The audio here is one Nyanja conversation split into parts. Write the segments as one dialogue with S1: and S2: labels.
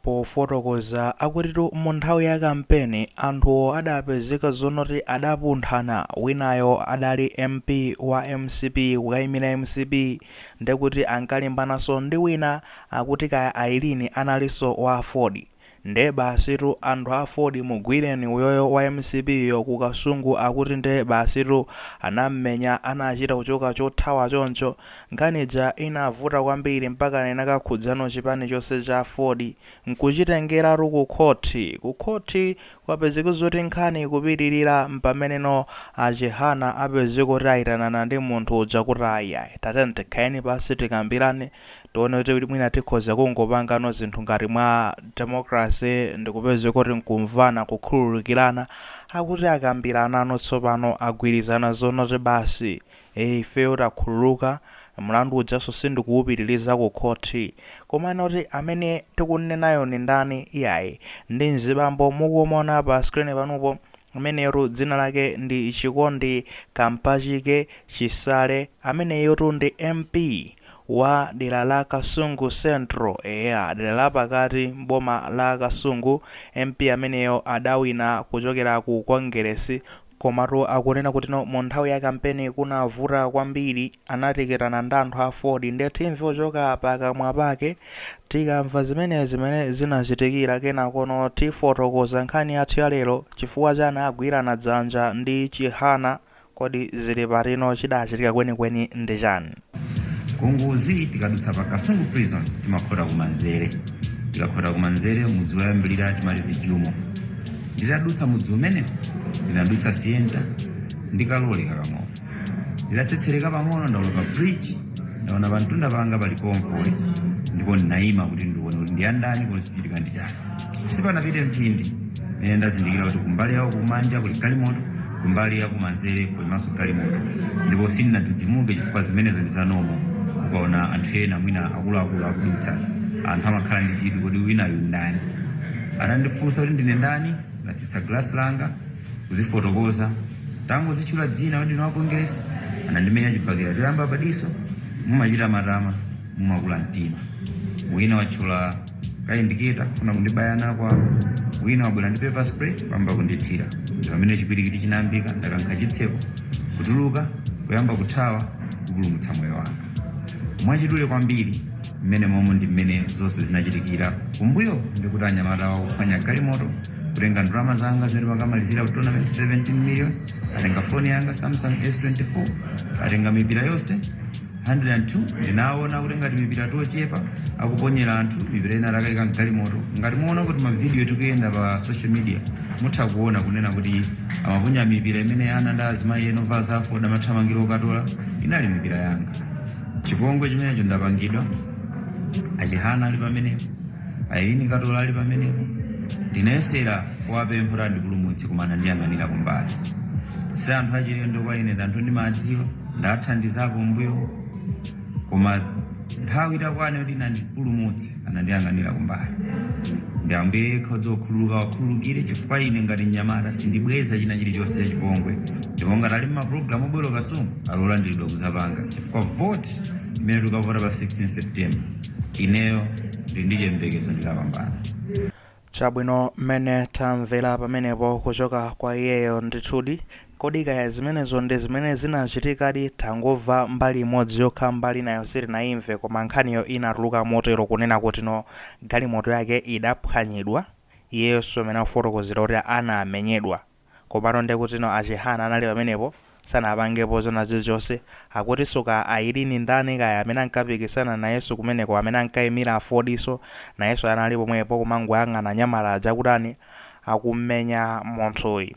S1: Pofotokoza akutitu mu nthawi ya kampeni anthuwo adapezeka zonoti adapunthana winayo adali MP wa mcp kukaimira mcp ndekuti ankalimbanaso ndi wina akuti kaya Aileen analinso wa aford nde basitu anthu a aford mugwireni uyoyo wa mcp yo ku kasungu akuti nde basitu anammenya anachita kuchoka chothawa choncho Nkhani ija inavuta kwambiri mpakana inakakhudzano chipani chonse cha aford nkuchitengeratu ku khothi. Ku khothi kwapezeka zoti nkhani ikupitirira mpameneno a Chihana apezeka kuti ayitanana ndi munthu uja kuti ayiayi tatiyeni tikhaleni pansi tikambirane tione kuti mwina tikhoza kungopangano zinthu ngati mwa democracy ndikupezeka kuti nkumvana kukhululukirana. Akuti akambiranano tsopano agwirizana zonoti basi ee ifeyo takhululuka, mlandu ujanso sindikuwupitiliza ku khothi. Komano oti amene tikunnenayo ndi ndani? Iyayi, ndi mzibambo mukumuona pa screen panupo, ameneyotu dzina lake ndi Chikondi Kampachike Chisale, ameneyotu ndi MP wa dera la Kasungu Central, eya, dera la pakati m'boma la Kasungu, MP ameneyo adawina kuchokera ku Kongeresi, Komatu akunena kuti no mu nthawi ya kampeni kunavuta kwambiri, anatikitana ndi anthu a aford nde timve kuchoka pakamwa pake, tikamva zimenezi mmene zinachitikira kenakono tifotokoza nkhani yathu ya lero, chifukwa chani agwirana dzanja ndi Chihana, kodi zili patino chidachitika kwenikweni ndi chani? Ku
S2: Nguzi tikadutsa pa kasungu prison timakhota kumanzere tikakhota kumanzere mudzi woyambirira timati vijumo nditadutsa mudzi umenewo inadutsa sienta ndikaloleka pang'ono nditatsetsereka pang'ono ndawoloka bridge ndaona pamtunda panga pali konvoyi ndipo ndinayima kuti ndione kuti ndiyandani kuti chichitika ndi chani sipanapite mphindi mene ndazindikira kuti kumbali yawo kumanja kuli galimoto kumbali ya kumanzere kulimanso galimoto ndipo sindinadzidzimuke chifukwa zimenezo ndi za normal ukaona anthu ena mwina akuluakulu akudutsa anthu amakhala ndi chidwi kodi winayu ndani anandifunsa kuti ndine ndani ndatsitsa glasi langa kuzifotokoza tangozitchula dzina kuti ndine wa kongeresi anandimenya chibakera choyamba padiso mumachita matama mumakula mtima wina watchula kayindiketa kufuna kundibaya nako apo wina wabwera ndi pepper spray kuyamba kundithira ndi pamene chipwirikiti chinayambika ndakankha chitseko kutuluka kuyamba kuthawa kupulumutsa moyo wanga mwachidule kwambiri mmenemo ndi mmene zonse zinachitikira kumbuyo ndikuti anyamatawo kuphwanya galimoto kutenga ndalama zanga zimene mmakamalizira ku tournament 17 million atenga foni yanga samsung s24 atenga mipira yonse 102 ndinaona kuti ngati mipira tochepa akuponyera anthu mipira ina atakaika mgalimoto ngati muona kuti mavidiyo akuyenda pa social media mutha kuona kunena kuti amaponya mipira imene ana ndi azimayi ena ovala za aford amathamangira okatola inali mipira yanga chipongwe chimenecho ndapangidwa achihana ali pamenepo a Eileen Katola ali pamenepo ndinayesera kuwapempha kuti andipulumutse koma anandiyang'anira kumbali si anthu achilendo kwa ine ndi anthu ndimadziwa ndathandizapo mbuyo koma nthawi itakwana yoti andipulumutse anandiyang'anira kumbali ndi ambuye yekha odzokhululuka awakhululukire chifukwa ine ngati mnyamata sindibweza china chilichonse chachipongwe ndipo ngati ali m'mapulogalamu obwera ku Kasungu ali olandilidwa kuzapanga chifukwa voti imene tikavota pa 16 september ineyo ndili ndi chiyembekezo ndikapambana
S1: Chabwino, mmene tamvera pamenepo kuchoka kwa iyeyo, ndithudi, kodi kaya zimenezo ndi zimene zinachitikadi, tangomva mbali imodzi yokha, mbali inayo sitinaimve, koma nkhaniyo inatuluka motero kunena kutino galimoto yake idaphwanyidwa, iyeyonso mmene akufotokozera kuti anamenyedwa. Komano nde kutino a Chihana anali pamenepo sanapangepo zona zilizonse, akutinso kaya Eileen ndani kaya amene ankapikisana nayeso kumeneko amene ankaimira aford-so nayeso anali pomwepo kumangoyang'ana anyamata aja akutani akummenya munthuyi.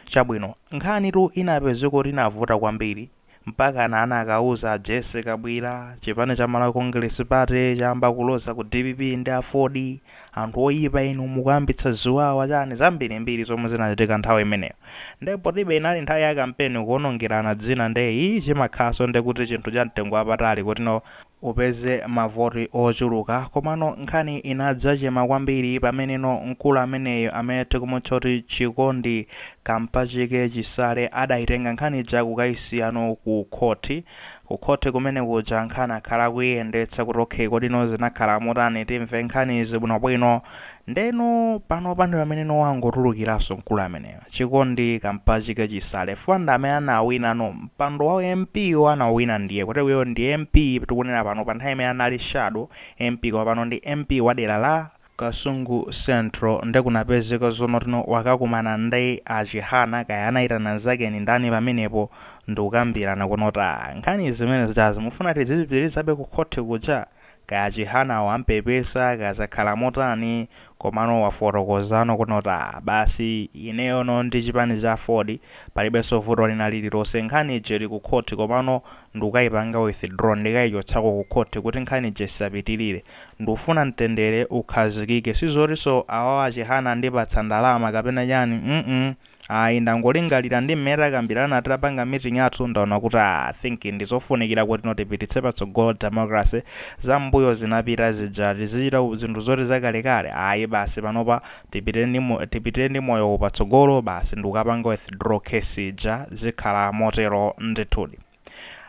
S1: Chabwino nkhanitu inapezeka kuti inavuta kwambiri mpakana anakauza a Jessie Kabwila, chipani cha Malawi Congress Party chayamba kuloza ku dpp ndi aford, anthu oyipa inu, mukuyambitsa ziwawa, chani, zambirimbiri zomwe zinachitika nthawi imeneyo. Nde potibe inali nthawi ya kampeni kuonongerana dzina nde ii chimakhalanso ndekuti chinthu cha mtengo wapatali kuti no upeze mavoti ochuluka komano nkhani inadzachema kwambiri pameneno mkulu ameneyo amene tikumutcha kuti Chikondi Kampachike Chisale adaitenga nkhani ija kukaisiyano ku khoti. Ku khoti kumene kuja nkhani akhala akuiyendetsa kuti okay kodino zinakhala motani timve nkhanizi bwinobwino. Ndeno panopa ndipameneno wangotulukiranso mkulu ameneyo. chikondi kampachike chisale chifukwa ndi amene anawina no mpando wa mp wo anawina ndiye kuti iyeyo ndi mp tikunena pano panthawi imene ija anali shadow mp koma pano ndi mp wa dera la kasungu central nde kupezeka zonoti no wakakumana ndi a chihana kaya anaitana mnzake ndi ndani pamenepo ndikukambirana kunoti aa nkhani zimene zijazi mufuna tidzipitilizabe ku khothi kuja? Kaya a Chihana ampepesa kaya zakhala motani komano wafotokozano kunoti aah basi ineyono ndi chipani cha aford palibenso vuto lina lililonse nkhani ija ili ku khoti komano ndikukaipanga withdraw ndikaichotsako ku khoti kuti nkhani ija isapitilire. Ndikufuna mtendere ukhazikike sizotinso awawa achihana andipatsa ndalama kapena chani mm Ayi ndangolingalira ndi mmene tinakambirana titapanga meeting yathu ndaona kuti I think ndizofunikira kutino tipititse patsogolo democracy zam'mbuyo zinapita zija tizichita zinthu zoti zakalekale ayi basi panopa tipitire ndi tipitire ndi moyowu patsogolo basi ndikukapanga withdraw case ija zikhala motero ndithudi.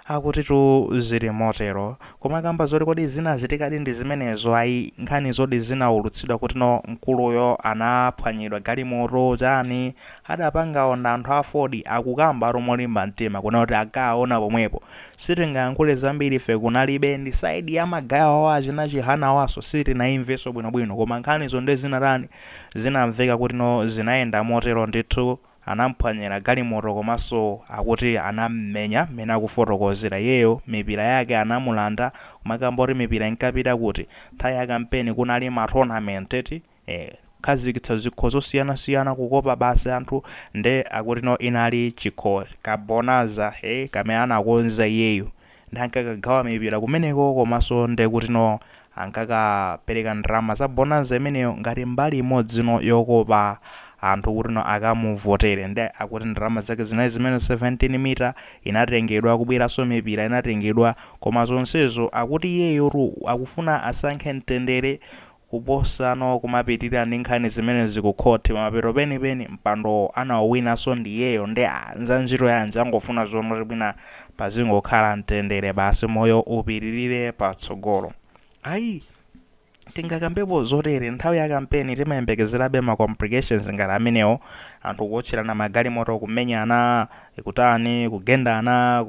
S1: Akutitu zili motero. Kumakamba zoti kodi zinachitikadi ndi zimenezo ayi, nkhani zoti zinaulutsidwa kuti no mkuluyo anaphwanyidwa galimoto chani, adapangawo nda anthu a Aford akukambatu molimba mtima kunena kuti akaona pomwepo. Sitingayankhule zambiri ife kunalibe ndi side ya magaye awo achina Chihanawoso sitinaimvenso bwinobwino koma nkhanizo nde zinatani zinamveka kuti no zinayenda motero ndithu. Anamphwanyira galimoto komanso akuti anamumenya mmene akufotokozera iyeyo mipira yake anamulanda kumakamba zoti mipira inkapita kuti? Nthawi ya kampeni kunali ma tournament eti ee khazikitsa zikho zosiyanasiyana kukopa basi anthu nde akutino inali chikho ka bonanza ee kamene anakonza iyeyo nde ankakagawa mipira kumeneko komanso ndekutino ankakapereka ndalama za bonanza imeneyo ngati mbali imodzino yokopa anthu kutino akamuvotere nde akuti ndalama zake zinali zimenezo 17 mita inatengedwa kubweranso mipira inatengedwa koma zonsezo akuti iyeyotu akufuna asankhe mtendere Kuposano kumapitilira ndi nkhani zimenezi ku khothi mapeto penipeni mpandowo anauwinaso ndiyeyo nde aah nzantchito yanji angofuna zongoti mwina pazingokhala mtendere basi moyo upitilire patsogolo ayi tingakambepo zotere nthawi ya kampeni timayembekezerabe ma complications ngati amenewo anthu kuotcherana magalimoto kumenyana kutani kugendana.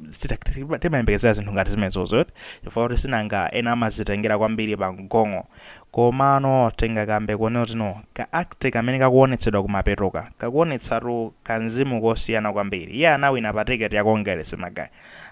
S1: sita- tima- timayembekezera zinthu ngati zimenezozo chifukwa kuti sinanga ena amazitengera kwambiri pa mgongo komano tingakambe kunena kutino ka act kamene kakuonetsedwa kumapetoka kakuonetsatu kanzimu kosiyana kwambiri iye anawina pa tiketi ya kongeresi magaye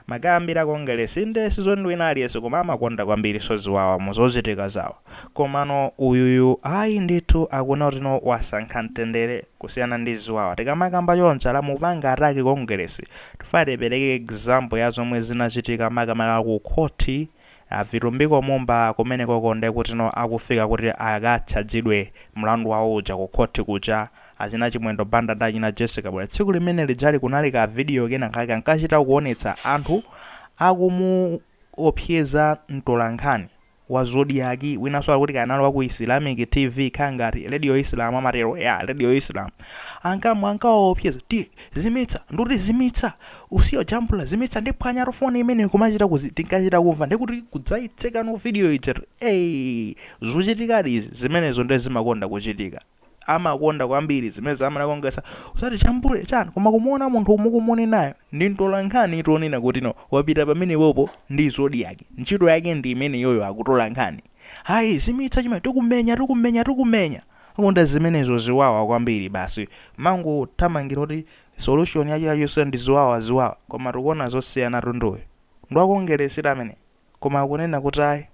S1: magaye ambiri a kongeresi nde sizoti ndi wina aliyense koma amakonda kwambiri zaziwawa muzochitika zawo Komano uyuyu ayi ndithu akuona kutino wasankha mtendere kusiyana ndi ziwawa. Tikamakamba chonchi ala mupanga attack Kongeresi tifuna tipereke example ya zomwe zinachitika makamaka ku khoti a Vitumbiko Mumba kumenekoko ndekutino akufika kuti akatchajidwe mlandu wawo uja ku khoti kuja. Achina Chimwendo Banda ndi achina Jessie Kabwila tsiku limene lijali kunali ka video kenakake kankachita kuonetsa anthu akumuopseza mtolankhani. wa zodiak winaso wa kuti kaya analowa ku islamic tv kaya ngati radio islam amatero ya radio islam ankamwa ankawaopseza ti zimitsa nduti zimitsa usiyo jambula zimitsa ndiphwanyatu foni imene kumachita kuzi tinkachita kumva ndikuti kudzaitsegano video ija ey zochitikadi izi zimenezo nde zimakonda kuchitika amakonda kwambiri zimenezo amanakongesa osati chambule chani koma kumuona munthu mukumunenayo ndi mtolankhani tonena kuti no wapita pamene popo ndi Zodiak ntchito yake ndi imeneyoyo akutola nkhani hayi zimitsa chimene tikumenya tikumenya tikumenya konda zimenezo ziwawa kwambiri basi mangothamangira kuti solution ya chilichonse ndi ziwawa ziwawa koma tikuona zosiyana mtunduwo ndi wa kongeresi amene koma akunena kuti ayi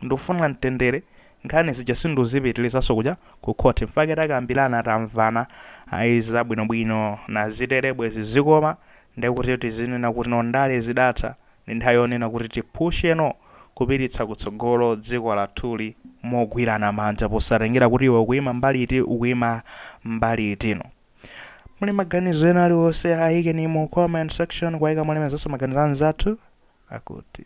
S1: ndufuna mtendere nkhani zija sinduzipitilizaso kuja ku court mfake takambirana tamvana ayi zabwinobwino nazitere bwezi zikukoma ndekuti tizinena kuti no ndale zidatha ndi nthawi yonena kuti tipusheno kupititsa kutsogolo dziko lathuli mogwirana manja posatengera kuti iwe ukuima mbali iti ukuima mbali iti nomu muli maganizo ena aliwonse ayikeni mu comment section poika mulemezaso maganizo anzathu akuti